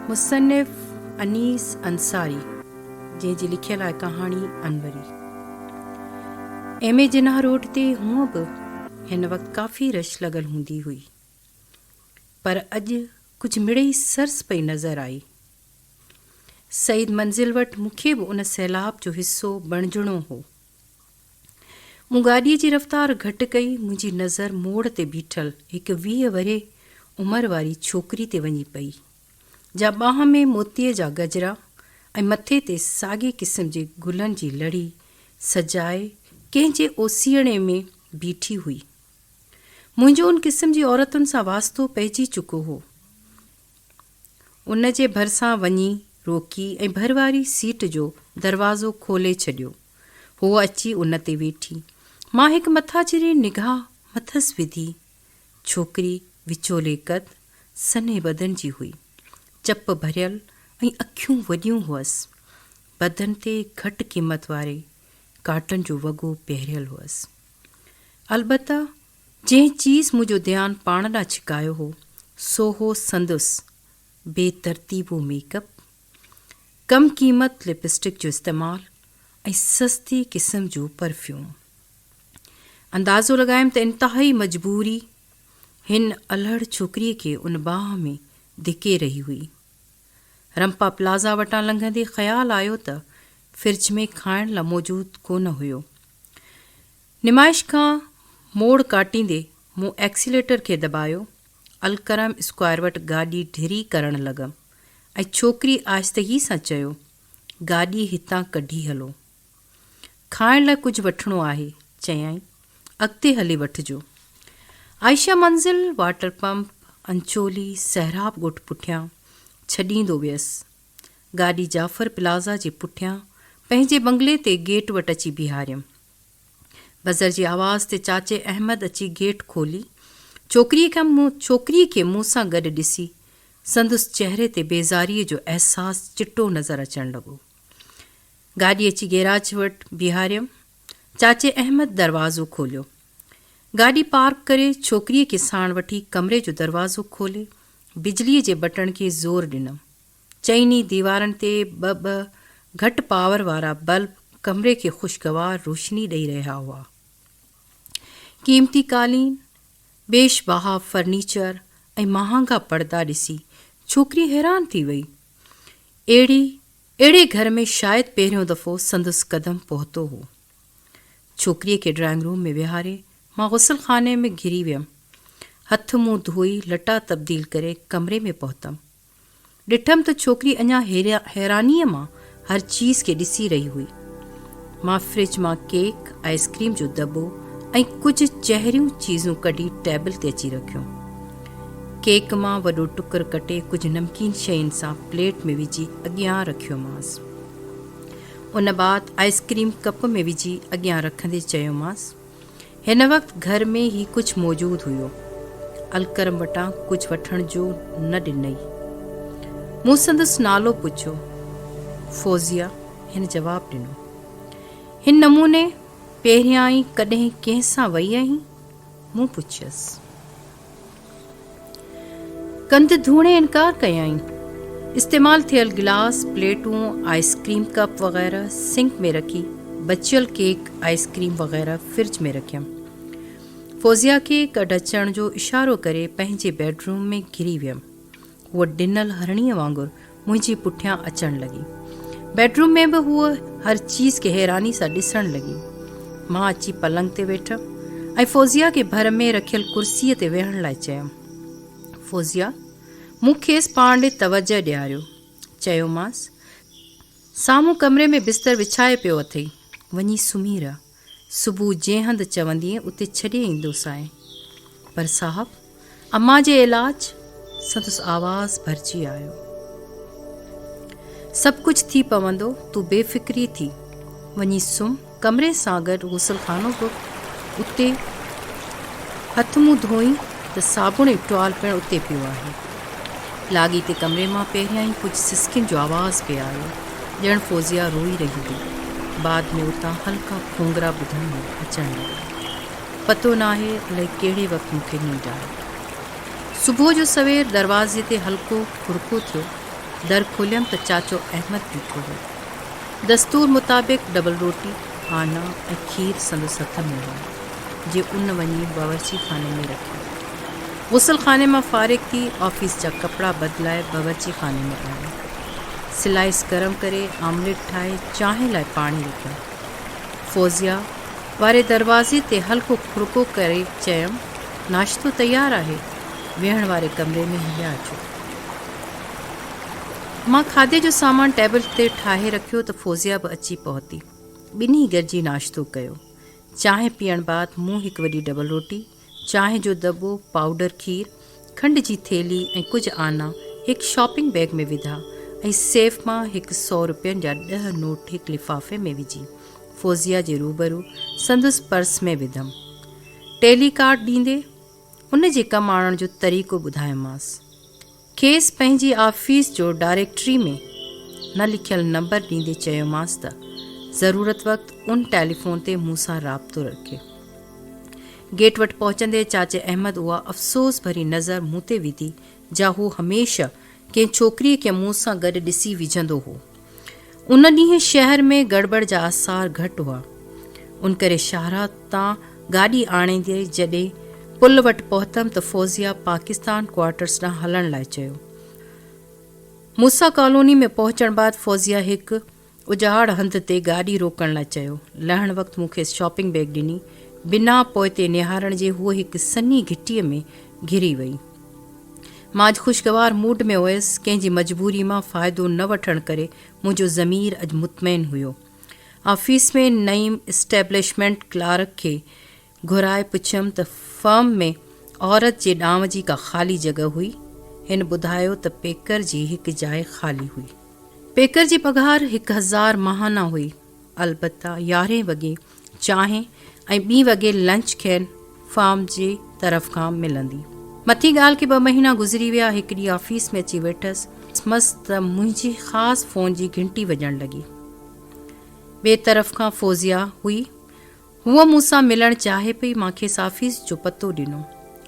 مصنف انيس انصاري جنهن جي لکيل آهي ڪهاڻي Anwari. M A Jinnah road تي هونء به هن وقت ڪافي رش لڳل هوندي هئي پر اڄ ڪجهه مڙئي سرس پئي نظر آئي. سعيد منزل وٽ مون کي به ان سيلاب جو حصو بڻجڻو هو. مون گاڏيء جي رفتار گهٽ ڪئي، منهنجي نظر موڙ تي بيٺل هڪ ويهه ورهيه عمر واري ڇوڪري تي وڃي پئي، جا ٻانهن ۾ موتيء جا گجرا ۽ مٿي تي ساڳئي قسم جي گلن جي لڙي سجائي ڪنهن جي اوسيئڙي ۾ بيٺي هئي. منهنجو ان قسم جي عورتن سان واسطو پئجي چڪو هو. ان جي ڀرسان وڃي روڪي ۽ ڀر واري سيٽ جو دروازو کولي ڇڏيو. هوء اچي ان تي ويٺي. مان هڪ مٿاڇري نگاهه مٿس وڌي. ڇوڪري وچولي قد، سنهي بدن جي هئي. چپ ڀريل ۽ اکيون وڏيون هئس. بدن تي گهٽ قيمت واري ڪاٽن جو وڳو پهريل هئس. البته جنهن چيز منهنجو ڌيان پاڻ ڏانهن ڇڪايو هو، سو هو سندس بي ترتيبو ميڪ اپ، ڪم قيمت لپسٽڪ جو استعمال ۽ سستي قسم جو پرفيوم. اندازو لڳايم ته انتهائي مجبوري هن الهڙ ڇوڪريء کي ان باهه ۾ ڌڪي رهي هئي. رمپا پلازا وٽان لنگهندي خيال آيو ته فرج ۾ کائڻ لا موجود ڪونه هيو. نمائش کان موڙ ڪاٽيندي مون ايڪسيليٽر کي دٻايو، الڪرم اسڪوائر وٽ گاڏي ڍري ڪرڻ لڳم ۽ ڇوڪري آهستگي سان چيو، گاڏي هتان ڪڍي هلو. کائڻ لاء ڪجهه وٺڻو آهي، چيائين، اڳتي هلي وٺجو. عائشه منزل، واٽر پمپ، انچولي، سهراب ڳوٺ پٺيان ڇڏيندو ويس. گاڏي جعفر پلازا جي پٺيان پنهنجي بنگلي تي گيٽ وٽ اچي بيهاريم. بزر جي آواز تي چاچي احمد اچي گيٽ کولي. ڇوڪريء کي ڇوڪريء کي مون سان گڏ ڏسي سندس چهري تي بيزاريء جو احساس چٽو نظر اچڻ لڳو. گاڏي اچي گيراج وٽ بيهاريم. چاچي احمد دروازو کوليو. گاڏي پارڪ ڪري ڇوڪريء کي ساڻ وٺي ڪمري جو دروازو کولي بجليء جي بٽڻ کي زور ڏنم. چئني ديوارن تي ٻه ٻه گهٽ پاور وارا بلب ڪمري کي خوشگوار روشني ڏئي رهيا هئا. قيمتي قالين، بيش بها فرنيچر ۽ مهانگا پڙدا ڏسي ڇوڪري حيران ٿي وئي. اهڙي اهڙي گهر ۾ شايد پهريون دفعو سندس قدم پهتو هو. ڇوڪريء کي ڊرائنگ روم ۾ ويهاري، مان غسل خاني ۾ گهري ويم. هٿ منهن ڌوئي، لٽا تبديل ڪري، ڪمري ۾ پهتم. ڏٺم ته ڇوڪري اڃا حيرانيء مان هر چيز کي ڏسي رهي هئي. مان فرج مان ڪيڪ، آئس ڪريم جو دٻو ۽ ڪجهه چهريون چيزون ڪڍي ٽيبل تي اچي رکيون. ڪيڪ مان وڏو ٽڪر ڪٽي ڪجهه نمڪين شين سان پليٽ ۾ وجهي اڳيان رکيومانس. ان بعد آئس ڪريم ڪپ ۾ وجهي اڳيان رکندي چيومانس، هن وقت گهر ۾ هي ڪجهه موجود هيو، الڪرم وٽان ڪجهه وٺڻ جو نه ڏنئي. مون سندس نالو پڇيو. فوزيه هن جواب ڏنو. هن نموني پهريائين ڪڏهن ڪنهن سان وئي آهين؟ مون پڇيس. ڪنڌ ڌوڻي انڪار ڪيائين. استعمال ٿيل گلاس، پليٽون، آئس ڪريم ڪپ وغيره سنڪ ۾ رکي، بچيل ڪيڪ، آئس ڪريم وغيره فرج ۾ رکيم. فوزيا کي ڪڍ اچڻ جو اشارو ڪري پنهنجي بيڊروم ۾ گهري ويم. هوء ڊنل هرڻيء وانگر منهنجي پٺيان اچڻ لڳي. بيڊروم ۾ به هوء هر چيز کي حيراني سان ڏسڻ لڳي. مان اچي پلنگ تي ويٺم ۽ فوزيه کي ڀر ۾ رکيل ڪرسيء تي ويهڻ لاء چيم. فوزيه مون کيس پاڻ ڏي توجهه ڏياريو. چيومانس، سامهون ڪمري ۾ بستر وڇائي پيو اٿئي، وڃي سمهي رهه. صبح جنهن هنڌ چوندين اتي ڇڏي ايندوسانء. پر صاحب امان جي علاج سندس آواز ڀرجي آيو. سڀ ڪجهه ٿي پوندو تون بي فڪري ٿي وڃي سمهه ڪمري سان گڏ غسل خانو به اتي هٿ منهن ڌوئين ته صابڻ ۽ ٽوال پڻ اتي پيو آهي. لاڳيتي ڪمري مان پهريان ئي ڪجهه سسڪين جو آواز پئي آيو، ڄڻ فوزيه روئي رهي هئي. بعد ۾ اتان هلڪا کونگرا ٻڌڻ اچڻ لڳا. پتو ناهي الائي ڪهڙي وقت مون کي ننڊ آئي. صبح جو سوير دروازي تي هلڪو کڙڪو ٿيو، در کوليم ته چاچو احمد بيٺو هو. دستور مطابق ڊبل روٽي، آنا ۽ کير سندس هٿ ۾ هو، جي ان وڃي باورچي خاني ۾ رکيو. غسل خاني مان فارغ ٿي آفيس جا ڪپڙا بدلائي باورچي خاني ۾ آيم. سلائيس گرم ڪري آمليٽ ٺاهي چانهه لاء پاڻي رکيم. فوزيه واري دروازي تي هلڪو کڙڪو ڪري چيم، ناشتو تيار آهي، ويهڻ واري ڪمري ۾ هليا اچو. مان کاڌي جو سامان ٽيبل تي ٺاهي رکيو ته فوزيه به اچي پهتي. ٻنهي گڏجي ناشتو ڪيو. چانهه پيئڻ بعد مون هڪ وڏي ڊبل روٽي، چانهه جو دٻو، پائوڊر کير، کنڊ جي ٿيلهي ۽ ڪجهه آنا هڪ شاپنگ بيگ ۾ وڌا ۽ سيف مان هڪ سؤ روپين جا ڏهه نوٽ هڪ لفافي ۾ وجهي فوزيه جي روبرو سندس پرس ۾ وڌم. ٽيلي ڪارڊ ڏيندي ان جي ڪم آڻڻ جو طريقو ٻڌايومانس. کيس پنهنجي آفيس جو ڊائريڪٽري ۾ نه لکيل نمبر ڏيندي چيومانس ته ضرورت وقت ان ٽيليفون تي مون سان رابطو رکي. گيٽ وٽ پهچندي چاچي احمد اها افسوس ڀري نظر مون تي وڌي جا هو هميشه ڪنهن ڇوڪريء کي مون سان گڏ ڏسي وجهندو هو. ان ڏينهن شهر ۾ گڙٻڙ جا آثار گهٽ هئا، ان ڪري شاهراهه تان گاڏي آڻيندي جڏهن پل وٽ پهتم ته فوزيه پاڪستان ڪوارٽرز ڏانهن هلڻ لاء چيو. موسيٰ ڪالوني ۾ پهچڻ بعد فوزيه هڪ اجهاڙ هنڌ تي گاڏي روڪڻ لاء چيو. لهڻ وقت مون کيس شاپنگ بيگ ڏني. بنا پوئتي نهارڻ جي هوء هڪ سنهي گهٽيء ۾ گهري وئي. مان اڄ خوشگوار موڊ ۾ هيس، ڪنهن جي مجبوري مان فائدو نه وٺڻ ڪري منهنجو ضمير اڄ مطمئن هيو. آفيس ۾ نئيم اسٽيبلشمينٽ ڪلارڪ کي گهرائي پڇيم ته فرم ۾ عورت جي ڏانء جي ڪا خالي جڳهه هئي؟ هن ٻڌايو ته پيڪر جي هڪ جاء خالي هئي. پيڪر جي پگهار هڪ هزار ماهانه هئي، البته يارهين وڳي چانهه ۽ ٻي وڳي لنچ کين فارم جي طرف کان ملندي. مٿين ڳالهه کي ٻه مهينا گذري ويا، هڪ ڏينهن آفيس ۾ اچي ويٺس مس ته منهنجي خاص فون جي گهنٽي وڄڻ لڳي. ٻئي طرف کان فوزيا هئي. هوء مون سان ملڻ چاهي پئي، مان کيس آفيس جو پتو ڏنو.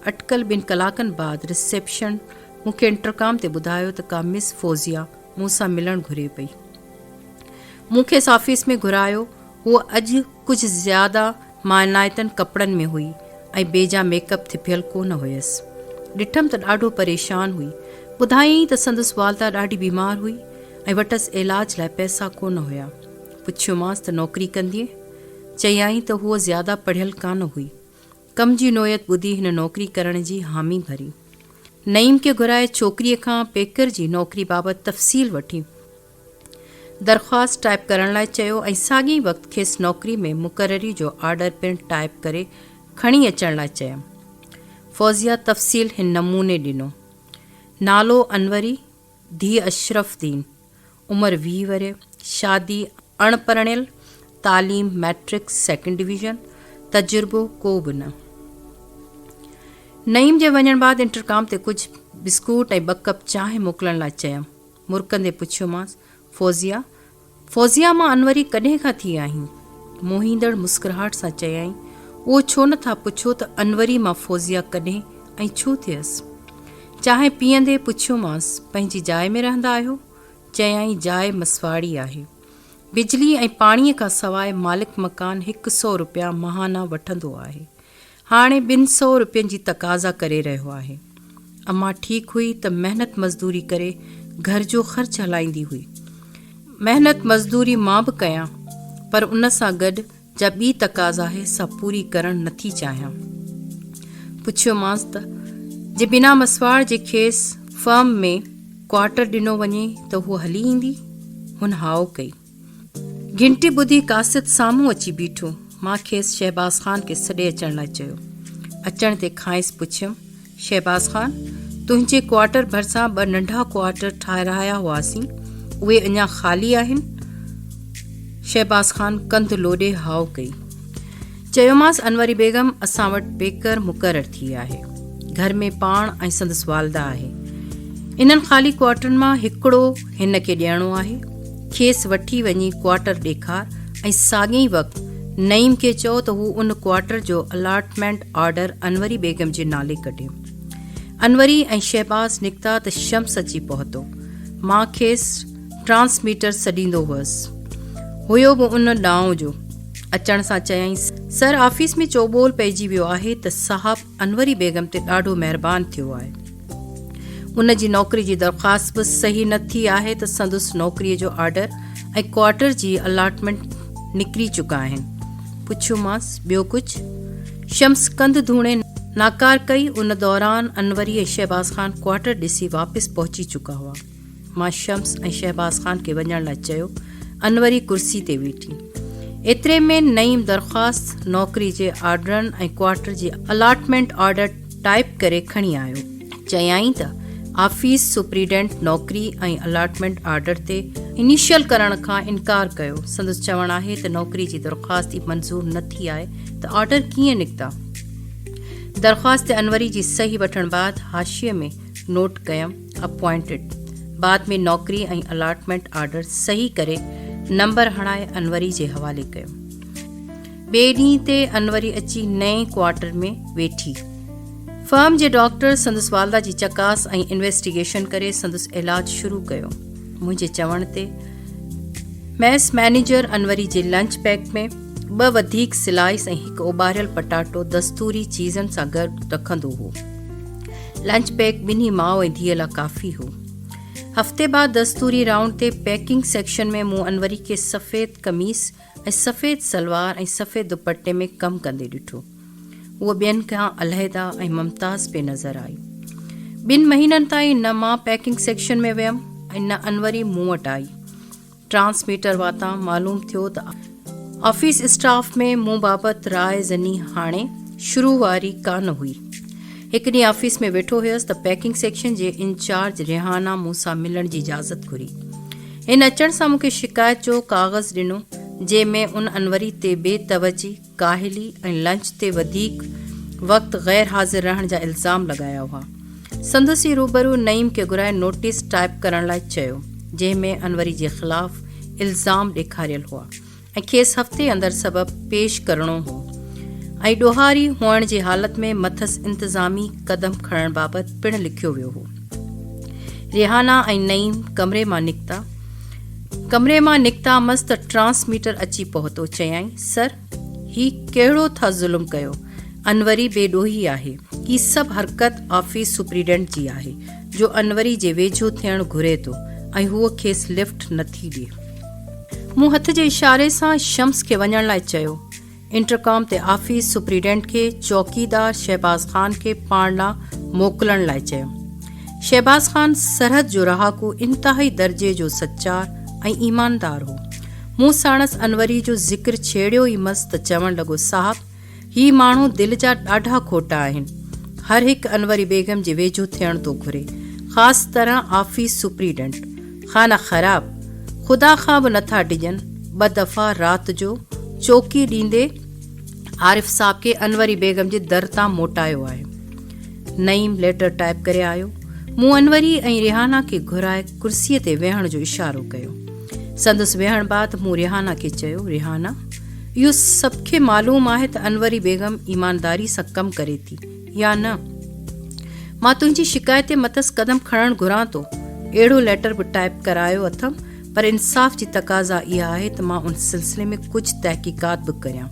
اٽڪل ٻن ڪلاڪن بعد رسيپشن مون کي انٽرڪام تي ٻڌايو ته ڪا مس فوزيا مون سان ملڻ گهري پئي. مون کيس آفيس ۾ گهرايو، هوء اڄ ڪجهه زياده مائنائتن ڪپڙن ۾ هئي ۽ بيجا ميڪ اپ ٿڦيل ڪونه هيس. ڏٺم ته ڏاڍو پريشان هئي. ٻڌايائين ته سندس والده ڏاڍي بيمار هئي ۽ وٽس علاج لاء پئسا ڪونه هيا. پڇيومانس ته نوڪري ڪندينء؟ چيائين ته هوء زياده پڙهيل ڪانه هئي. ڪم جي نوعيت ٻڌي هن نوڪري ڪرڻ جي حامي ڀري. نعيم کي گهرائي ڇوڪريء کان پيڪر جي نوڪري بابت تفصيل وٺي. درخواست ٽائيپ ڪرڻ لاء چيو ۽ ساڳي ئي وقت کيس نوڪري ۾ مقرري جو آرڊر پڻ ٽائيپ ڪري کڻي اچڻ لاء چيم. فوزيه تفصيل هن نموني ڏنو، نالو انوري، ڌيء اشرف دين، عمر ويهه ورهيه، شادي، اڻ پرڻيل، تعليم مئٽرڪ سيڪنڊ ڊويزن، تجربو ڪو به نه. نعيم جي وڃڻ بعد انٽرڪام تي ڪجهه بسڪوٽ ۽ ٻه ڪپ چانهه موڪلڻ لاء چيم. مرڪندي پڇيومانس، فوزيه! فوزيه مان انوري ڪڏهن کان ٿي آهين؟ موهيندڙ مسڪراهٽ سان چيائين، اهو ڇو نه ٿا پڇو ته انوري مان فوزيه ڪڏهن ۽ ڇو ٿيس؟ چانهه پيئندي پڇيومانس، پنهنجي جاء ۾ رهندا آهيو؟ چيائين، جاء مسواڙي آهي. بجلي ۽ پاڻيء کان سواء مالڪ مڪان هڪ سؤ روپيا ماهانه وٺندو آهي. هاڻي ٻن سئو روپين جي تقاضا ڪري رهيو آهي. اما ٺيڪ هئي ته محنت مزدوري ڪري گهر جو خرچ هلائيندي هئي. محنت مزدوري مان به ڪيان پر ان سان گڏ جا ٻي تقاضا آهي سا پوري ڪرڻ نٿي چاهيان. پڇيومانس ته جي بنا مسواڙ جي کيس فرم ۾ ڪوارٽر ڏنو وڃي ته هوء هلي ايندي؟ هن هائو ڪئي. گهنٽي ٻڌي قاصد سامهون اچي بيٺو. مان کيس شهباز خان کي سڏي اچڻ لاء چيو. اچڻ تي کانئس پڇيم، شهباز خان! تنهنجي ڪوارٽر ڀرسان ٻه ننڍا ڪوارٽر ٺاهرايا هئاسين، اهي اڃا خالي آهن؟ شهباز خان ڪنڌ لوڏي هائو ڪئي. چيومانس انوري بيگم اسان وٽ بيڪر مقرر ٿي آهي. گهر ۾ پاڻ ۽ سندس والده آهي. انهن خالي ڪوارٽرن مان هڪڙو هن کي ڏيڻو آهي. کيس وٺي وڃي ڪوارٽر ڏيکار ۽ ساڳئي وقت نعيم کي چئو ته هو ان ڪوارٽر جو الاٽمينٽ آرڊر انوري بيگم جي نالي ڪڍي. انوري ۽ شهباز نڪتا ته شمس اچي پهتو. مان کيس ٽرانسميٽر سڏيندو هئس. هيو به ان ڏانء جو. اچڻ سان چيائين، سر آفيس ۾ چوٻول پئجي ويو آهي ته صاحب انوري بيگم تي ڏاڍو مهربان ٿيو آهي. ان جي نوڪري جي درخواست به صحيح نه ٿي آهي ته سندس نوڪريء جو آرڊر ۽ ڪوارٽر جي الاٽمينٽ نڪري چڪا آهن. پڇيومانس، ٻيو ڪجهه؟ شمس ڪنڌ ڌوڻي ناڪار ڪئي. ان دوران انوري ۽ شهباز خان ڪوارٽر ڏسي واپس پهچي چڪا هئا. مان شمس ۽ شهباز خان کي وڃڻ لاء چيو. انوري ڪرسي تي ويٺي. ايتري ۾ نعيم درخواست، نوڪري جي آرڊرن ۽ ڪوارٽر جي الاٽمينٽ آرڊر ٽائيپ ڪري کڻي آيو. چيائين ته آفيس سپريڊنٽ نوڪري ۽ الاٽمينٽ آرڊر تي انيشل ڪرڻ کان انڪار ڪيو. سندس چوڻ آهي ته نوڪري جي درخواست ئي منظور نه ٿي آهي ته آرڊر ڪيئن نڪتا. درخواست تي انوري جي صحيح وٺڻ بعد حاشيي ۾ نوٽ ڪيم. اپوائنٽيڊ بعد ۾ نوڪري ۽ الاٽمينٽ آرڊر صحيح ڪري نمبر هڻائي انوري جي حوالي ڪيو. ٻئي ڏينهن تي انوري اچي نئين ڪوارٽر ۾ ويٺي. فرم جي ڊاڪٽر سندس والده جي چڪاس ۽ انويسٽيگيشن ڪري سندس علاج شروع ڪيو. منهنجي چوڻ تي ميس مئنيجر انوري جي لنچ پيڪ ۾ ٻه وڌيڪ سلائيس ۽ هڪ اوٻاريل پٽاٽو دستوري چيزن سان گڏ رکندو هو. لنچ پيڪ ٻنهي ماء ۽ ڌيء لا ڪافي هو. هفتي بعد دستوري رائونڊ تي پيڪنگ سيڪشن ۾ مون انوري کي سفيد قميص ۽ سفيد سلوار ۽ سفيد دوپٽي ۾ ڪم ڪندي ڏٺو. هوء ٻين کان علحده ۽ ممتاز پئي نظر آئي. ٻن مهينن تائين نه مان پيڪنگ سيڪشن ۾ ويم ۽ نه انوري مون وٽ آئي. ٽرانسميٽر واتان معلوم ٿيو ته آفيس اسٽاف ۾ مون بابت راء زني هاڻي شروع واري ڪانه هئي. هڪ ڏينهن آفيس ۾ ويٺو هيس ته پيڪنگ سيڪشن جي انچارج ريحانا مون سان ملڻ جي اجازت گهري. هن اچڻ سان مون کي شڪايت جو ڪاغذ ڏنو جنهن ۾ ان انوري تي بي توجهي ڪاهلي ۽ لنچ تي وڌيڪ وقت غير حاضر رهڻ جا الزام لڳايا هئا. سندس ئي روبرو نعيم کي گهرائي نوٽيس ٽائيپ ڪرڻ لاء چيو، جنهن ۾ انوري جي خلاف الزام ڏيکاريل هئا ۽ کيس هفتي اندر سبب پيش ڪرڻو هو ۽ ڏوهاري هئڻ جي حالت ۾ مٿس انتظامي قدم کڻڻ بابت پڻ لکيو ويو هو. ريحانه ۽ نعيم ڪمري مان نڪتا. ڪمري مان نڪتامس ته ٽرانسميٽر اچي پهتو. چيائين، سر! هي ڪهڙو ٿا ظلم ڪيو؟ انوري بي ڏوهي آهي. هي سڀ حرڪت آفيس سپريڊنٽ جي آهي، جو انوري جي ويجهو ٿيڻ گهري ٿو ۽ هوء کيس لفٽ نٿي ڏئي. مون هٿ جي اشاري سان شمس کي وڃڻ لاء چيو. انٽرڪام تي آفيس سپريڊنٽ کي چوڪيدار شهباز خان کي پاڻ ڏانهن موڪلڻ لاء چيو. شهباز خان سرحد جو رهاڪو انتهائي درجي جو سچار ۽ ايماندار هو. مون ساڻس انوري جو ذڪر ڇيڙيو ئي مس ته چوڻ لڳو صاحب! هي ماڻهو دل جا ڏاڍا کوٽا آهن. هر هڪ انوري بيگم جي ويجهو ٿيڻ ٿو گهري. خاص طرح آفيس سپريڊنٽ. خانه خراب خدا کان به نٿا ڊڄن، ٻه دفعا رات جو چوڪي ڏيندي عارف صاحب کي انوري بيگم جي در تان موٽايو آهي. نعيم ليٽر ٽائيپ ڪري آيو. مون انوري ۽ ريحانه کي گهرائي ڪرسي تي ويهڻ جو اشارو ڪيو. سندس ويهڻ بعد مون ريحانه کي چيو، ريحانه اهو سڀ کي معلوم آهي ته انوري بيگم ايمانداري سان ڪم ڪري ٿي، يا نه؟ مان تنهنجي شڪايت تي مٿس قدم کڻڻ گهران ٿو. اهڙو ليٽر به ٽائيپ ڪرايو اٿم پر انصاف جي تقاضا اها آهي ته مان ان سلسلي ۾ ڪجهه تحقيقات به ڪريان.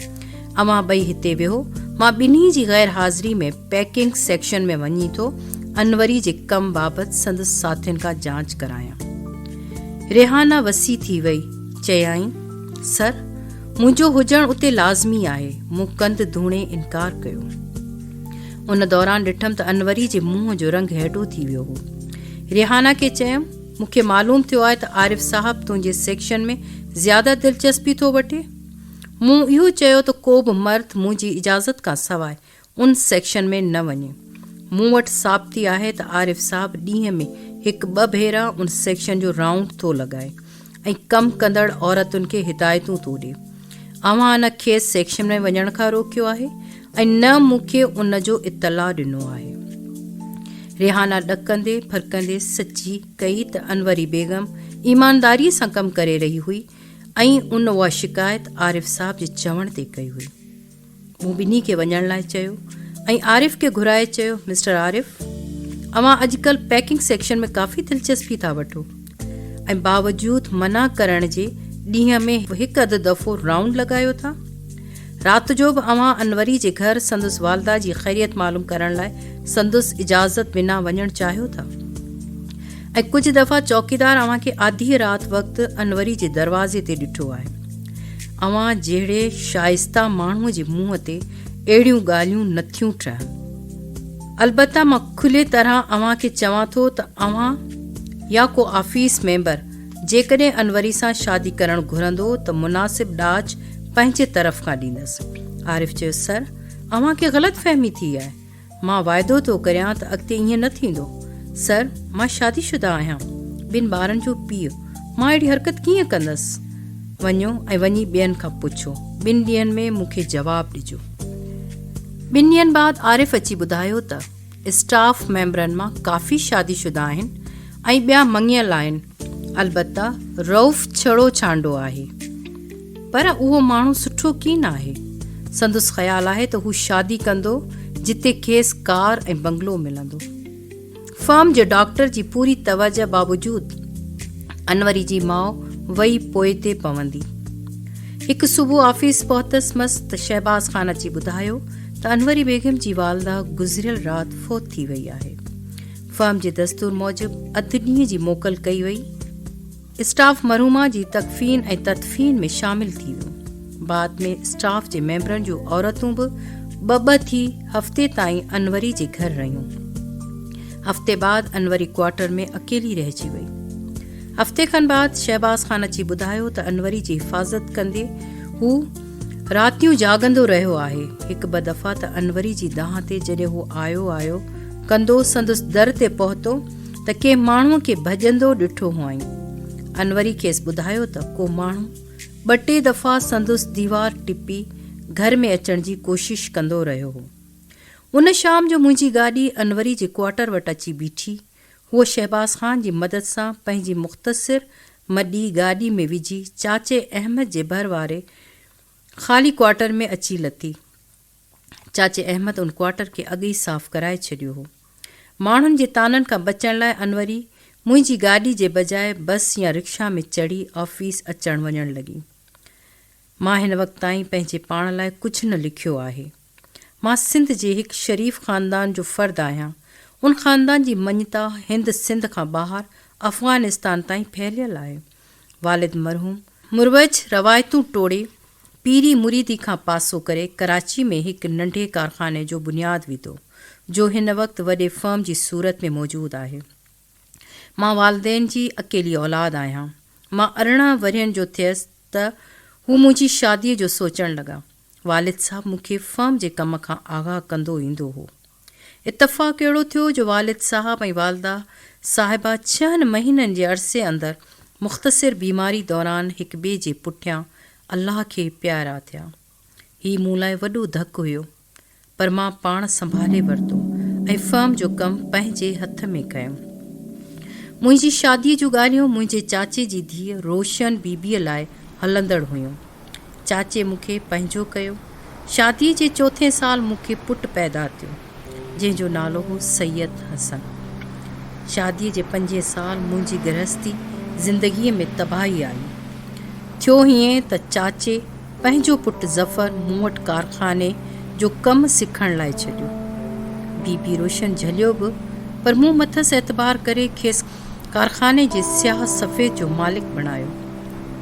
اوهان ٻئي هتي ويهو، مان ٻنهي جي غير حاضري ۾ پيڪنگ سيڪشن ۾ وڃي ٿو انوري جي ڪم بابت سندس ساٿين کان جاچ ڪرايان. ريحانه وسي ٿي وئي، چيائين، سر! منهنجو هجڻ اتي لازمي آهي. مون ڪنڌ ڌوڻي انڪار ڪيو. ان دوران ڏٺم ته انوري جي منهن جو رنگ هيڊو ٿي ويو هو. ريحانه کي چيم، مون کي معلوم ٿيو آهي ته عارف صاحب تنهنجي سيڪشن ۾ زياده دلچسپي ٿو وٺي. مون اهو چيو ته ڪوبه مرد منهنجي اجازت کان سواء ان سيڪشن ۾ نه وڃي. مون وٽ ثابتي آهي ته عارف صاحب ڏينهن ۾ هڪ ٻه ڀيرا ان سيڪشن جو رائونڊ ٿو لڳائي ۽ ڪم ڪندڙ عورتن کي هدايتون ٿو ڏي. اوهان نه کيس سيڪشن ۾ وڃڻ کان روڪيو آهي ۽ نه مون کي ان جو اطلاع ڏنو آهي. ريحانه ڏڪندي ڦرڪندي سچي ڪئي ته انوري بيگم ايمانداريء سان ڪم ڪري رهي هئي ۽ ان اها شڪايت عارف صاحب جي چوڻ تي ڪئي هئي. مون ٻنهي کي وڃڻ لاء چيو ۽ عارف کي گهرائي چيو، مسٽر عارف! اوهان اڄڪلهه پيڪنگ سيڪشن ۾ ڪافي دلچسپي ٿا وٺو ۽ باوجود منع ڪرڻ جي ڏينهن ۾ هڪ اڌ دفعو رائونڊ لڳايو ٿا. رات جو به اوهان انوري جي گهر سندس والده جي خيريت معلوم ڪرڻ لاء سندس اجازت بنا وڃڻ چاهيو ٿا ۽ ڪجهه دفعا چوڪيدار اوهان کي آڌيء رات وقت انوري جي دروازي تي ڏٺو آهي. اوهان جهڙي شائسته ماڻهو جي منهن تي اهڙيون ڳالهيون نه ٿيون ٽهن. البته مان کلي طرح اوهان کي چوان ٿو ته اوهان يا ڪو آفيس ميمبر جيڪڏهن انوري سان شادي ڪرڻ گهرندو ته مناسب ڏاج پنهنجي طرف کان ڏيندس. عارف چيو، سر، اوهان کي غلط فهمي ٿي آهي. مان واعدو ٿو ڪريان ته اڳتي ائين نه ٿيندو. سر، مان شادي شده آهيان، ٻن ٻارن جو پيء، مان اهڙي حرڪت ڪيئن ڪندس؟ وڃو ۽ وڃي ٻين کان پڇو. ٻن ڏينهن ۾ مون کي جواب ڏجو. ٻن ڏينهن بعد عارف اچي ٻڌايو ته اسٽاف ميمبرن مان ڪافي شادي شده آهن ۽ ٻيا مڱيل آهن، البته رئوف ڇڙو ڇانڊو آهي، پر اهو ماڻهو سٺو ڪين آهي. سندس خيال آهي ته هو شادي ڪندو جتي کيس ڪار ۽ بنگلو ملندو. فرم جي ڊاڪٽر جي پوري توجهه باوجود انوري جي ماء وئي پوئتي پوندي. هڪ صبح آفيس پهتس مس ته شهباز خان اچي ٻڌايو ته انوري بيگم جي والده گذريل رات فوت ٿي وئي آهي. فرم جي دستور موجب اڌ ڏينهن جي موڪل ڪئي وئي. اسٽاف مرحومه جي تڪفين ۽ تدفين ۾ شامل ٿي ويو. بعد ۾ اسٽاف جي ميمبرن جون عورتون به ٻه ٻه ٿي هفتي تائين انوري جي گهر رهيون. هفتي بعد انوري ڪوارٽر ۾ اڪيلي رهجي وئي. هفتي کن بعد شهباز خان اچي ٻڌايو ته انوري جي حفاظت ڪندي هو راتيون جاڳندو رهيو آهي. هڪ ٻه دفعا ته انوري جي دانهن تي جڏهن هو آيو آيو ڪندو سندس در تي پهتو ته ڪنهن ماڻهوء کي ڀڄندو ڏٺو هئائين. انوري کيس ٻڌايو ته ڪو ماڻهو ٻه ٽي دفعا سندس ديوار ٽپي گهر ۾ اچڻ جي ڪوشش ڪندو رهيو هو. ان شام جو منهنجي گاڏي انوري جي ڪوارٽر وٽ اچي بيٺي. هوء شهباز خان جي مدد سان پنهنجي مختصر مڏي گاڏي ۾ وجهي چاچي احمد جي ڀر واري خالي ڪوارٽر ۾ اچي لٿي. چاچي احمد ان ڪوارٽر کي اڳ ئي صاف ڪرائي ڇڏيو هو. ماڻهن جي طعنن کان بچڻ لاء انوري منهنجي گاڏي جي بجاء بس يا رڪشا ۾ چڙهي آفيس اچڻ وڃڻ لڳي. مان هن وقت تائين پنهنجي پاڻ لاء ڪجهه نه لکيو آهي. مان سنڌ جي هڪ شريف خاندان جو فرد آهيان. ان خاندان جي مڃتا هند سنڌ کان ٻاهر افغانستان تائين ڦهليل آهي. والد مرحوم. مروج روايتون ٽوڙي، پيري مريدي کان پاسو ڪري ڪراچي ۾ هڪ ننڍي ڪارخاني جو بنياد وڌو، جو هن وقت وڏي فرم جي صورت ۾ موجود آهي. مان والدين جي اڪيلي اولاد آهيان. مان ارڙهن ورهين جو ٿيس ته هو منهنجي شاديء جو سوچڻ لڳا. والد صاحب مون کي فرم جي ڪم کان آگاهه ڪندو ايندو هو. اتفاق اهڙو ٿيو جو والد صاحب ۽ والده صاحبه ڇهن مهينن جي عرصي اندر مختصر بيماري دوران هڪٻئي جي پٺيان الله کي پيارا ٿيا. هي مون لاء وڏو ڌڪ هيو. پر مان پاڻ سنڀالي ورتو ۽ فرم جو ڪم پنهنجي هٿ ۾ ڪيم. منهنجي شاديء جون ڳالهيون منهنجي چاچي جي ڌيء روشن بي بيء لاء هلندڙ هيون. چاچي مون کي پنهنجو ڪيو. شاديء جي چوٿين سال مون کي پٽ پيدا ٿيو، جنهن جو نالو هو سيد حسن. شاديء جي پنجين سال منهنجي گرهستي زندگيء ۾ تباهي آئي. ٿيو هيئن ته چاچي، پنهنجو پٽ ظفر مون وٽ ڪارخاني جو ڪم سکڻ لاء ڇڏيو. بي بي روشن جهليو به پر مون مٿس اعتبار ڪري کيس ڪارخاني جي سياهه سفيد جو مالڪ بڻايو.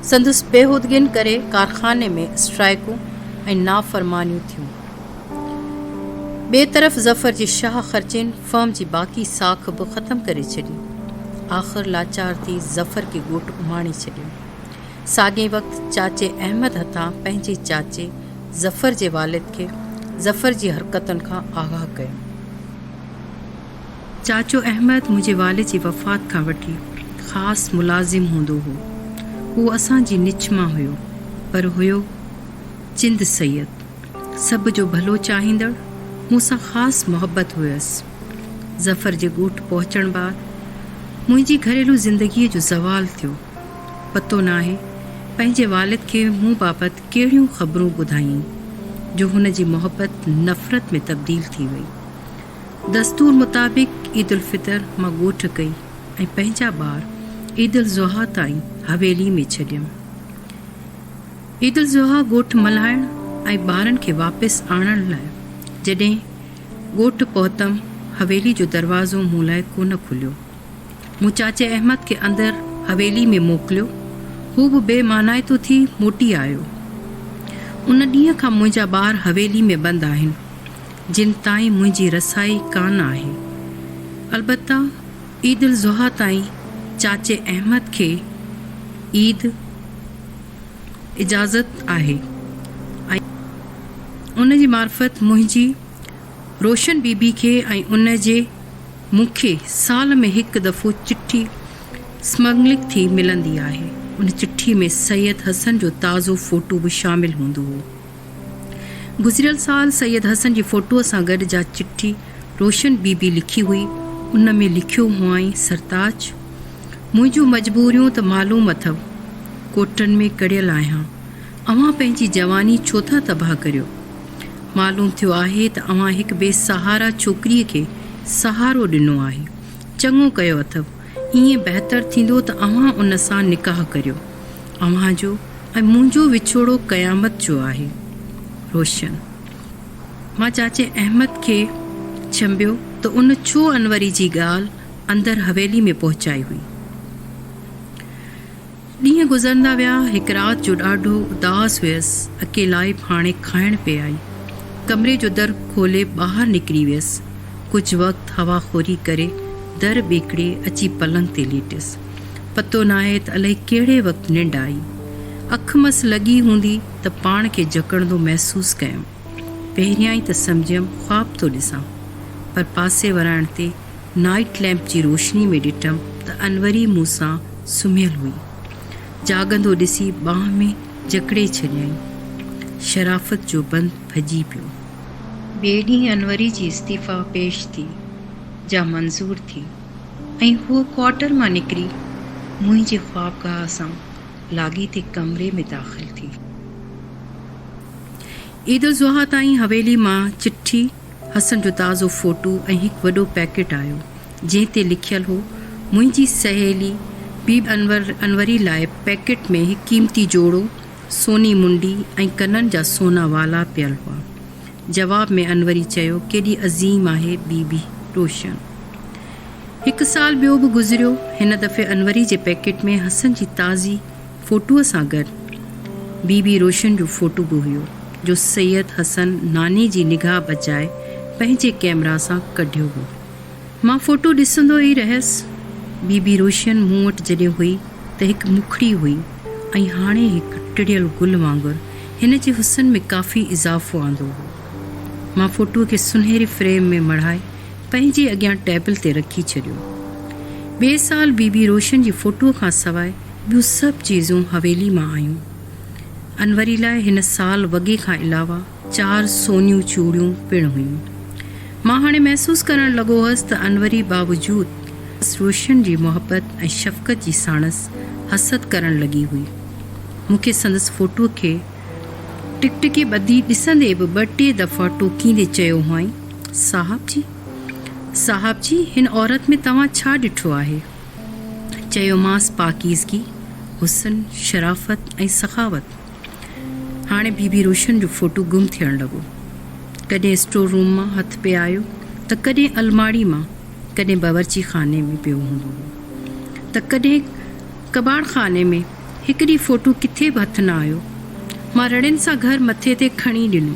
سندس بيهودگين ڪري ڪارخاني ۾ اسٽرائيڪون ۽ نافرمانيون ٿيون. ٻئي طرف ظفر جي شاهه خرچين فرم جي باقي ساک به ختم ڪري ڇڏي. آخر لاچار ٿي ظفر کي ڳوٺ اماڻي ڇڏيو. ساڳئي وقت چاچي احمد هٿان پنهنجي چاچي ظفر جي والد کي ظفر جي حرڪتن کان آگاهه ڪيو. چاچو احمد منهنجي والد جي وفات کان وٺي خاص ملازم هوندو هو. اهو اسان جي نچ مان هيو، پر هيو چند سيد، سڀ جو ڀلو چاهيندڙ، مون سان خاص محبت هيس. ظفر جي ڳوٺ پهچڻ بعد منهنجي گهريلو زندگيء جو زوال ٿيو. پتو ناهي پنهنجي والد کي مون بابت ڪهڙيون خبرون ٻڌايائين جو هن جي محبت نفرت ۾ تبديل ٿي وئي. دستور مطابق عيد الفطر مان ڳوٺ ڪئي ۽ پنهنجا ٻار عيد الضحيٰ تائين حويلي ۾ ڇڏيم. عيد الضحيٰ ڳوٺ ملهائڻ ۽ ٻارن کي واپس آڻڻ لاء جڏهن ڳوٺ پهتم حويلي جو دروازو مون لاء ڪونه کليو. مون چاچي احمد کي اندر حويلي ۾ موڪليو. هو به بي معنائتو ٿي موٽي آيو. ان ڏينهن کان منهنجا ٻار حويلي ۾ بند آهن، جن تائين منهنجي رسائي ڪانه آهي. البته عيد الاضحيٰ تائين چاچي احمد کي عيد اجازت آهي ۽ ان جي معرفت منهنجي روشن بي بي کي ۽ ان جي مون کي سال ۾ هڪ دفعو چٺي اسمگلنگ ٿي ملندي آهي. ان چٺي ۾ سيد حسن جو تازو فوٽو به شامل هوندو هو. گذريل سال سيد حسن جي فوٽوء سان گڏ جا چٺي روشن بي بي لکي هئي، ان ۾ لکيو هئائين سرتاج! منهنجون مجبوريون ته معلوم اٿئو. ڪوٽن ۾ ڪڙيل آهيان. اوهان پنهنجي جواني ڇو ٿا تباهه ڪريو؟ معلوم ٿيو آهي ته اوهان هڪ بي سهارا ڇوڪريء کي سهارو ڏنو آهي. چڱو ڪيو اٿئو. ائين بهتر ٿيندو ته اوهان ان سان نڪاح ڪريو. اوهان جو ۽ منهنجو وڇوڙو قيامت جو آهي. روشن. مان چاچي احمد کي ڇنڀيو ته ان ڇو انوري جي ڳالهه اندر حويلي ۾ پهچائي هئي. ڏينهن گذرندا ويا. هڪ رات جو ڏاڍو اداس هيس. اڪيلائي ڀاڻي کائڻ پئي آئي. ڪمري جو در کولي ٻاهر نڪري ويس. ڪجهه وقت هوا خوري ڪري در ٻيڪڙي اچي پلنگ تي ليٽيس. پتو ناهي ته الائي ڪهڙي وقت ننڊ آئي. اک مس لڳي هوندي ته پاڻ کي جهڪڙندو محسوس ڪيم. پهريائين ته سمجهيم خواب ٿو ڏسان. پر پاسي ورائڻ تي نائيٽ لئمپ جي روشني ۾ ڏٺم ته انوري مون سان سمهيل هئي. جاڳندو ڏسي ٻانهن ۾ جڪڙي ڇڏيائين. شرافت جو بند ڦڄي پيو. ٻئي ڏينهن انوري جي استعيفيٰ پيش ٿي، جا منظور ٿي ۽ هوء ڪوارٽر مان نڪري منهنجي خوابگاهه سان لاڳيتي ڪمري ۾ داخل ٿي. عيدالضحيٰ تائين حويلي مان چٺي حسن جو تازو فوٽو ۽ هڪ وڏو پيڪيٽ آيو، جنهن تي لکيل هو، منهنجي سهيلي بيبي انور انوري لاء پيڪيٽ ۾ هڪ قيمتي جوڙو، سوني منڊي ۽ ڪنن جا سونا والا پيل هئا. جواب ۾ انوري چيو، ڪيڏي عظيم آهي بيبي روشن. هڪ سال ٻيو به گذريو، هن دفعي انوري جي پيڪيٽ ۾ حسن جي تازي. فوٽوء سان گڏ بي بي روشن جو فوٽو به هيو، جو سيد حسن ناني جي نگاهه بچائي پنهنجي ڪئميرا سان ڪڍيو هو. مان فوٽو ڏسندو ئي رهيس. بي بي روشن مون وٽ جڏهن هئي ته هڪ مکڙي هئي ۽ هاڻي هڪ ٽڙيل گل وانگر هن جي حسن ۾ ڪافي اضافو آندو هو. مان فوٽوء کي سنهري فريم ۾ مڙهائي پنهنجي اڳيان ٽيبل تي رکي ڇڏيو. ٻئي سال بي بي روشن جي فوٽوء کان سواء ٻيون سڀ چيزون حويلي مان آيون. انوري لاء هن سال وڳي کان علاوه چار سونيون چوڙيون پڻ هيون. مان هاڻي محسوس ڪرڻ لڳو هئس ته انوري باوجود روشن جي محبت ۽ شفقت جي ساڻس حسد ڪرڻ لڳي هئي. مون کي سندس فوٽوء کي ٽڪٽڪي ٻڌي ڏسندي به ٻه ٽي دفعا ٽوڪيندي چيو هئائين، صاحب جي! صاحب جي! هن عورت ۾ توهان ڇا ڏٺو آهي؟ چيومانس پاڪيزگي، حسن، شرافت ۽ سخاوت. هاڻي بيبي روشن جو فوٽو گم ٿيڻ لڳو. ڪڏهن اسٽور روم مان هٿ پئي آيو ته ڪڏهن الماڙي مان، ڪڏهن باورچي خاني ۾ پيو هوندو هو ته ڪڏهن ڪٻاڙ خاني ۾. هڪ ڏينهن فوٽو ڪٿي به هٿ نه آيو. مان رڙين سان گهر مٿي تي کڻي ڏنو.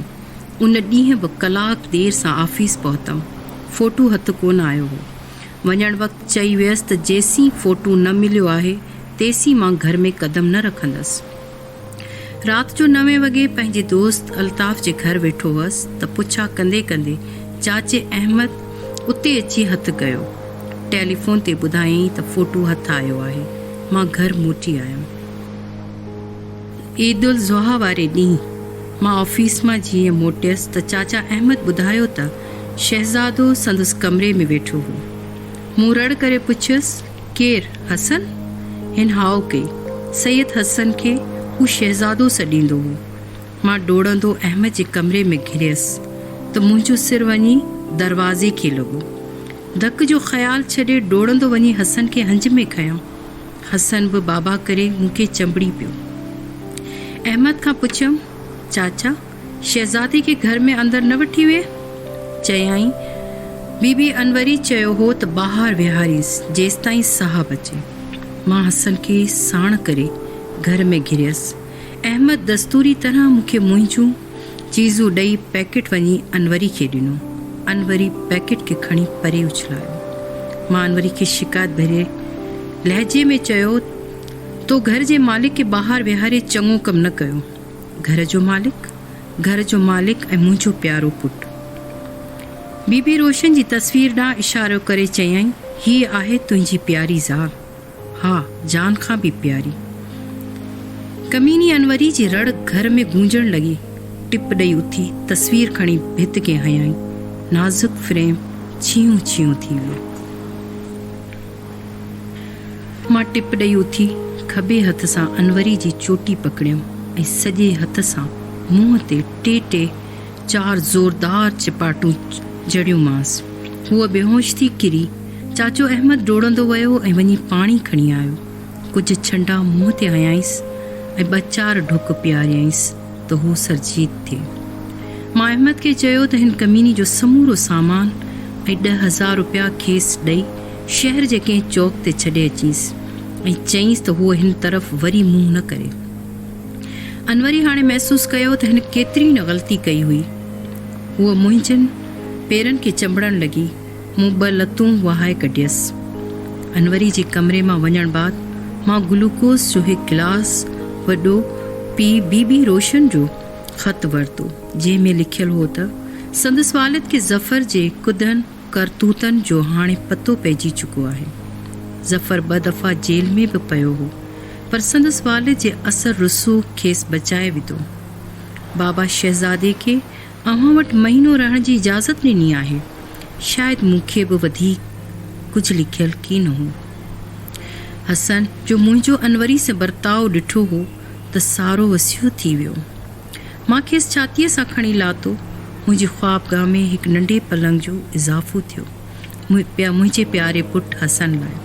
ان ڏينهن به ڪلاڪ دير سان آفيس پهتم. فوٽو هٿ ڪونه آيو هو. وڃڻ وقت چئي ويس ته جيسين فوٽو نه مليو آهي تيسين مان گهر ۾ قدم نه رکندس. رات جو نوين وڳي پنهنجي دوست الطاف جي گهر ويٺو هئس ته پڇا ڪندي ڪندي چاچي احمد اتي اچي هٿ ڪيو. ٽيليفون تي ٻڌايائين ته فوٽو هٿ آيو آهي. مان گهر موٽي آيم. عيدالضحيٰ واري ڏينهن مان آفيس مان جيئن موٽيس ته چاچا احمد ٻڌايو ته. شهزادو سندس ڪمري ۾ ويٺو هو. مون رڙ ڪري پڇيس، ڪير؟ حسن؟ هن هاء ڪئي. سيد حسن کي هو شهزادو سڏيندو هو. مان ڊوڙندو احمد جي ڪمري ۾ گهريس ته منهنجو سر وڃي دروازي کي لڳو. ڌڪ جو خيال ڇڏي ڊوڙندو وڃي حسن کي هنج ۾ کنيم. حسن به بابا ڪري مون کي چنبڙي پيو. احمد کان پڇيم، چاچا! شهزادي کي گهر ۾ اندر نه وٺي ويهه. چيائين، بي بي انوري چيو هو ته ٻاهر ويهارينس جيستائين صاحب اچي. مان حسن کي ساڻ ڪري گهر ۾ گهريس. احمد دستوري طرح مون کي منهنجون چيزون ڏئي پيڪٽ وڃي انوري کي ڏنو. انوري پيڪٽ کي کڻي پري اڇلايو. مان انوري کي شڪايت ڀري لهجي ۾ چيو، تو گهر جي مالڪ کي ٻاهر ويهاري چڱو ڪم نه ڪيو. گهر جو مالڪ، گهر جو مالڪ ۽ منهنجو پيارو پٽ. بي بي روشن جي تصوير ڏانهن اشارو ڪري چيائين، هيء آهي تنهنجي پياري زال. ها، جان کان به پياري. ڪميني انوري جي رڙ گهر ۾ گونجڻ لڳي. ٽپ ڏئي اٿي تصوير کڻي ڀت کي هنيائين. نازڪ فريم ڇيهون ڇيهون ٿي ويو. مان ٽپ ڏئي اٿي کٻي هٿ سان انوري جي چوٽي پڪڙيم ۽ سڄي هٿ سان منهن تي ٽي ٽي چار زوردار چپاٽون جهڙيومانس. هوء بيهوش ٿي ڪري. چاچو احمد ڊوڙندو ويو ۽ وڃي پاڻي کڻي آيو. ڪجهه ڇنڊا منهن تي هنيائينس ۽ ٻه چار ڍڪ پياريائينس. ته هو سرجيت ٿئي. مان احمد کي چيو ته هن ڪميني جو سمورو سامان ۽ ڏهه هزار روپيا کيس ڏئي شهر جي ڪنهن چوڪ تي ڇڏي اچينس ۽ چئينس ته هو هن طرف وري منهن نه ڪري. انوري هاڻي محسوس ڪيو ته هن ڪيتري نه غلطي ڪئي هئي. هوء منهنجن پيرن کي چنبڙڻ لڳي. مون ٻه لتون وهائي ڪڍيس. انوري جي ڪمري مان وڃڻ بعد مان گلوڪوز جو هڪ گلاس وڏو پي بي بي روشن جو خط ورتو جنهن ۾ لکيل هو ته سندس والد کي ظفر جي ڪڌن ڪرتوتن جو هاڻي پتو پئجي چڪو آهي. ظفر ٻه دفعا جيل ۾ به پيو هو پر سندس والد جي اثر رسوخ کيس بچائي وڌو. بابا شهزادي کي اوهان وٽ مهينو رهڻ جي اجازت ڏني آهي. شايد مون کي به وڌيڪ ڪجهه لکيل ڪي نه هو. حسن جو منهنجو انوري سان برتاء ڏٺو هو ته سارو وسيع ٿي ويو. مان کيس ڇاتيء سان کڻي لاتو. منهنجي خوابگاهه ۾ هڪ ننڍي پلنگ جو اضافو ٿيو. منهنجي پياري پٽ حسن لاء.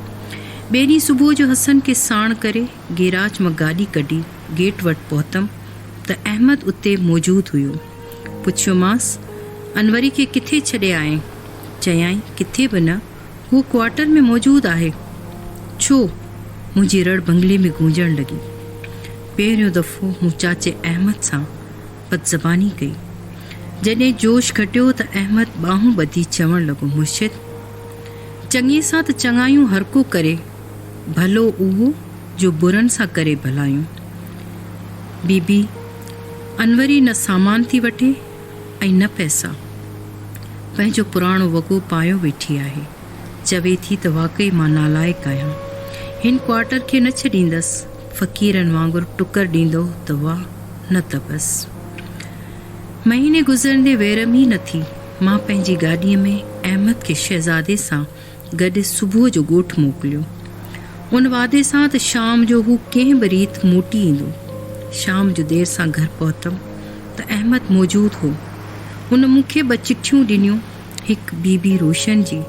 ٻئي ڏينهن صبح جو حسن کي ساڻ ڪري گيراج مان گاڏي ڪڍي گيٽ وٽ پهتم ته احمد اتي موجود هيو. پڇيومانس، انوري کي ڪٿي ڇڏي آئين؟ چيائين، ڪٿي به نه، هو ڪوارٽر ۾ موجود آهي. ڇو؟ منهنجي رڙ بنگلي ۾ گونجڻ لڳي. پهريون دفعو مون چاچي احمد سان بدزباني ڪئي. جڏهن جوش گهٽيو ته احمد ٻانهون ٻڌي چوڻ لڳو، مرشد! چڱي سان ته چڱايون هرڪو ڪري، ڀلو اهو جو برن سان ڪري ڀلايون. بي بي! انوري نه سامان ٿي وٺي ۽ نه پئسا. پنهنجو پراڻو وڳو پايو ويٺي آهي. چوي ٿي ته واقعي مان نالائق آهيان. هن ڪوارٽر کي نه ڇڏيندس. فقيرن وانگر ٽڪر ڏيندو ته واهه نه ته بس. مهيني گذرندي ويرم ئي نه ٿي. مان پنهنجي گاڏيء ۾ احمد کي شهزادي سان گڏ صبح جو ڳوٺ موڪليو. ان وعدي سان ته شام جو هو ڪنهن به ريت موٽي ايندو. شام جو دير سان گهر پهتم ته احمد موجود هو. ان مون کي ٻه چٺيون ڏنيون، هڪ بي بي روشن جي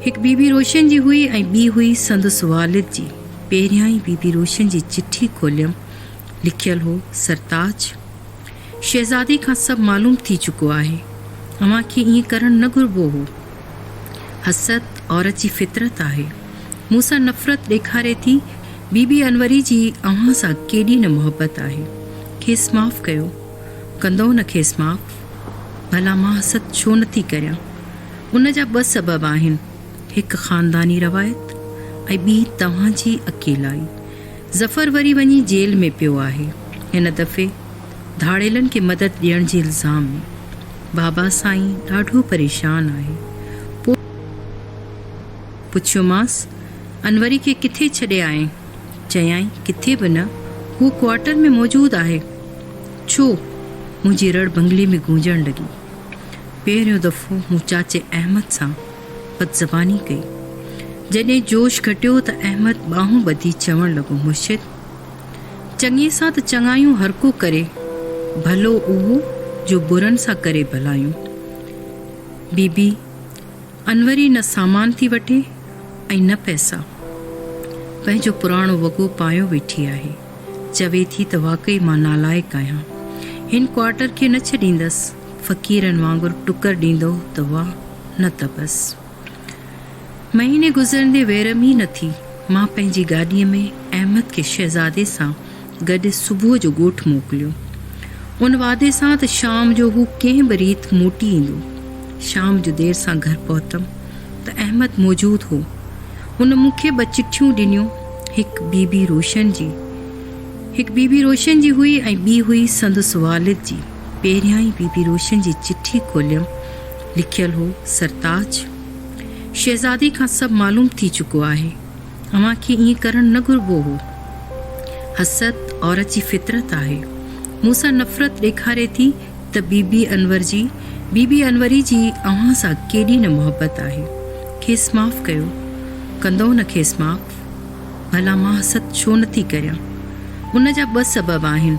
هڪ بي بي روشن جي هئي ۽ ٻي هئي سندس والد جي. پهريائين بي بي روشن جي چٺي کوليم. لکيل هو، سرتاج! شهزادي کان سڀ معلوم ٿي چڪو آهي. اوهان کي ائين ڪرڻ نه گهربو هو. حسد عورت جي فطرت آهي. مون سان نفرت ڏيکاري ٿي. بي بي انوري جي اوهان سان ڪيڏي نه محبت آهي. کيس معاف ڪيو. ڪندؤ نه کيس معاف؟ ڀلا مان حسد ڇو نه ٿي ڪريان. ان جا ٻه سبب آهن. هڪ خانداني روايت ۽ ٻي توهان جي اڪيلائي. ظفر وري وڃي جيل ۾ پيو آهي. هن دفعي. ڌاڙيلن کي مدد ڏيڻ جي الزام ۾، بابا سائين ڏاڍو پريشان آهي. پوء پڇيومانس، انوري کي ڪٿي ڇڏي آئين؟ چيائين، ڪٿي به نه، هو ڪوارٽر ۾ موجود آهي. ڇو؟ منهنجي رڙ بنگلي ۾ گونجڻ لڳي. پهريون دفعو مون چاچي احمد سان بدزباني ڪئي. جڏهن جوش گهٽيو ته احمد ٻانهون ٻڌي چوڻ لڳو، مرشد! چڱي سان ته چڱايون هرڪو ڪري، ڀلو اهو جو برن سان ڪري ڀلايون. بي بي انوري نه سامان ٿي وٺي ۽ نه پئسا. پنهنجو پراڻو وڳو پايو ويٺي آهي. چوي ٿي ته واقعي مان نالائق آهيان. هن ڪوارٽر کي نه ڇڏيندس. فقيرن وانگر ٽڪر ڏيندو ته واهه نه ته بس. مهيني گذرندي ويرم ئي نه ٿي، مان پنهنجي گاڏيء ۾ احمد کي شهزادي سان گڏ صبح جو ڳوٺ موڪليو، ان وعدي سان ته شام جو هو ڪنهن به ريت موٽي ايندو. شام جو دير سان گهر پهتم ته احمد موجود هو. هن مون کي ٻه چٺيون ڏنيون، هڪ بيبي روشن جي هڪ بيبي روشن جي هئي ۽ ٻي هئي سندس والد جي. پهريائين بيبي روشن جي چٺي کوليم لکيل هو سرتاج شهزادي کان سڀ معلوم ٿي چڪو آهي اوهان کي ائين ڪرڻ نه گهربو هو حسد عورت جي فطرت آهي مون سان نفرت ڏيکاري ٿي ته بي بي انور جي بي بي انوري جي اوهان سان ڪيڏي نه محبت آهي کيس معاف ڪيو ڪندؤ نه کيس معاف ڀلا مان حسد ڇو نه ٿي ڪريان ان جا ٻه سبب آهن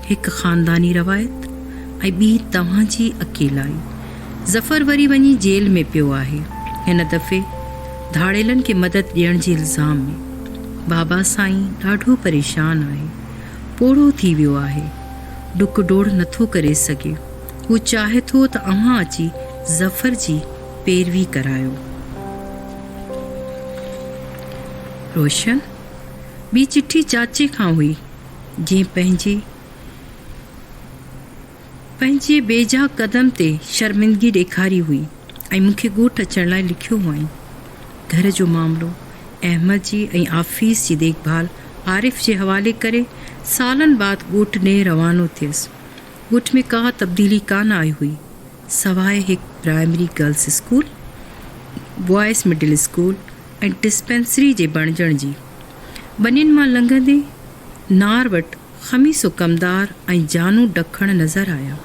هڪ خانداني روايت ۽ ٻي توهان جي اڪيلائي. ظفر وري وڃي جيل ۾ پيو آهي، هن دفعي ڌاڙيلن کي مدد ڏيڻ جي الزام ۾. بابا سائين ڏاڍو پريشان آهي، پوڙهو ٿي ويو آهي، ڊڪ ڊوڙ نٿو ڪري سگهي، هو چاهي ٿو ته اوهان اچي ظفر جي پيروي ڪرايو. روشن، ٻي چٺي چاچي کان هئي. جنهن پنهنجي پنهنجي بيجا قدم تي شرمندگي ڏيکاري هئي ۽ مون کي ڳوٺ اچڻ لاء لکيو هئائين. گهر جو معاملو، احمد جي ۽ آفيس جي ديک ڀال عارف جي حوالي ڪري سالن بعد ڳوٺ ڏي روانو ٿيس. ڳوٺ ۾ ڪا تبديلي ڪانه آئي هئي سواء هڪ primary girls school, boys middle school ۽ dispensary جي بڻجڻ جي. ٻنين مان لنگهندي نار وٽ خميسو ڪمدار ۽ جانو ڊکڻ نظر آيا.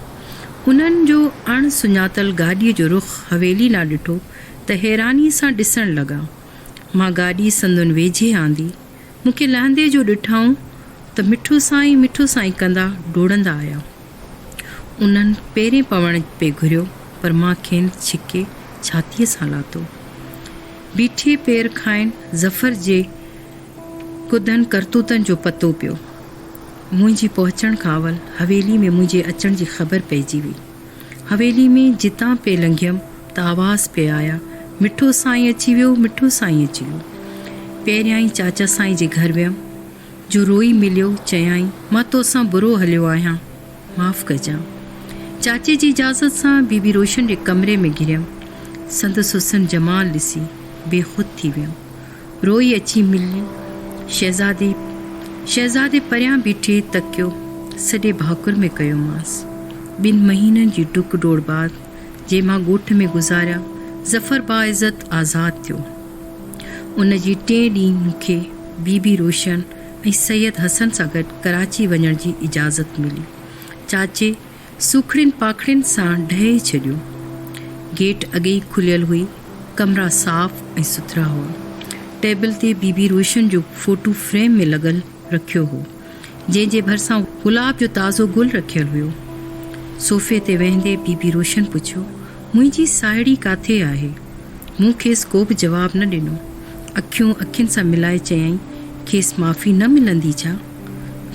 انهن جو اڻ سڃاتل گاڏيء جو رخ حويلي ڏانهن ڏٺو ته حيرانيء سان ڏسڻ لڳا. مان گاڏي سندن ويجهي آندي. مون کي لهندي جو ڏٺائون ته مٺو سائين مٺو سائين ڪندا ڊوڙندا آيا. انهن پيرين پوڻ پئي گهريو پر مان کين ڇڪي ڇاتيء سان لاتو. بيٺي پير کانئن ظفر جي ڪڌن ڪرتوتن جو پتو پيو. منهنجي پهچڻ کان اول حويلي ۾ منهنجي اچڻ جي خبر پئجي وئي. حويلي ۾ جتان پئي لنگهيم ته آواز پئي آيا، مٺو سائين اچي ويو، مٺو سائين اچي ويو. پهريائين چاچا سائين جي گهر ويم، جو روئي مليو، چيائين، مان توسان برو هليو آهيان. معاف ڪجان. چاچي جي اجازت سان بيبي روشن جي ڪمري ۾ گهريم. سندس حسن جمال ڏسي بي خود ٿي ويم. روئي اچي ملي. شهزادي شهزادي پريان بيٺي تڪيو سڏي ڀاڪر ۾ ڪيومانس. ٻن مهينن جي ڊڪ ڊوڙ بعد جي مان ڳوٺ ۾ گذاريا ظفر باعزت آزاد ٿيو. ان جي ٽئين ڏينهن مون کي بيبي روشن ۽ سيد حسن سان گڏ ڪراچي وڃڻ جي اجازت ملي. چاچي سوکڙين پاکڙين سان ڊهي ڇڏيو. گيٽ اڳي ئي کليل هئي. ڪمرا صاف ۽ سٿرا هئا. ٽيبل تي بي بي روشن جو فوٽو فريم ۾ لڳل رکيو هو، جنهن جي ڀرسان گلاب جو تازو گل رکيل هيو. صوفي تي ويهندي بي بي روشن پڇيو، منهنجي ساهيڙي ڪاٿي آهي؟ مون کيس ڪوبه جواب نه ڏنو. اکيون اکين سان ملائي چيائين، کيس معافي نه ملندي ڇا؟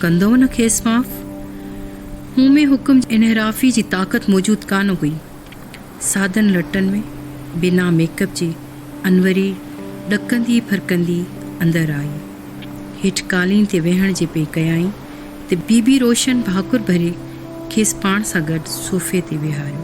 ڪندؤ نه کيس معاف؟ مون ۾ حڪم جي انحرافي جي طاقت موجود ڪانه هئي. سادن لٽن ۾، بنا ميڪ اپ جي، انوري ڏڪندي ڦرڪندي اندر آئي. هيٺ قالين تي ويهڻ جي پئي ڪيائين ته بيبي روشن ڀاڪر ڀري کيس پاڻ سان گڏ صوفي تي ويهاريو.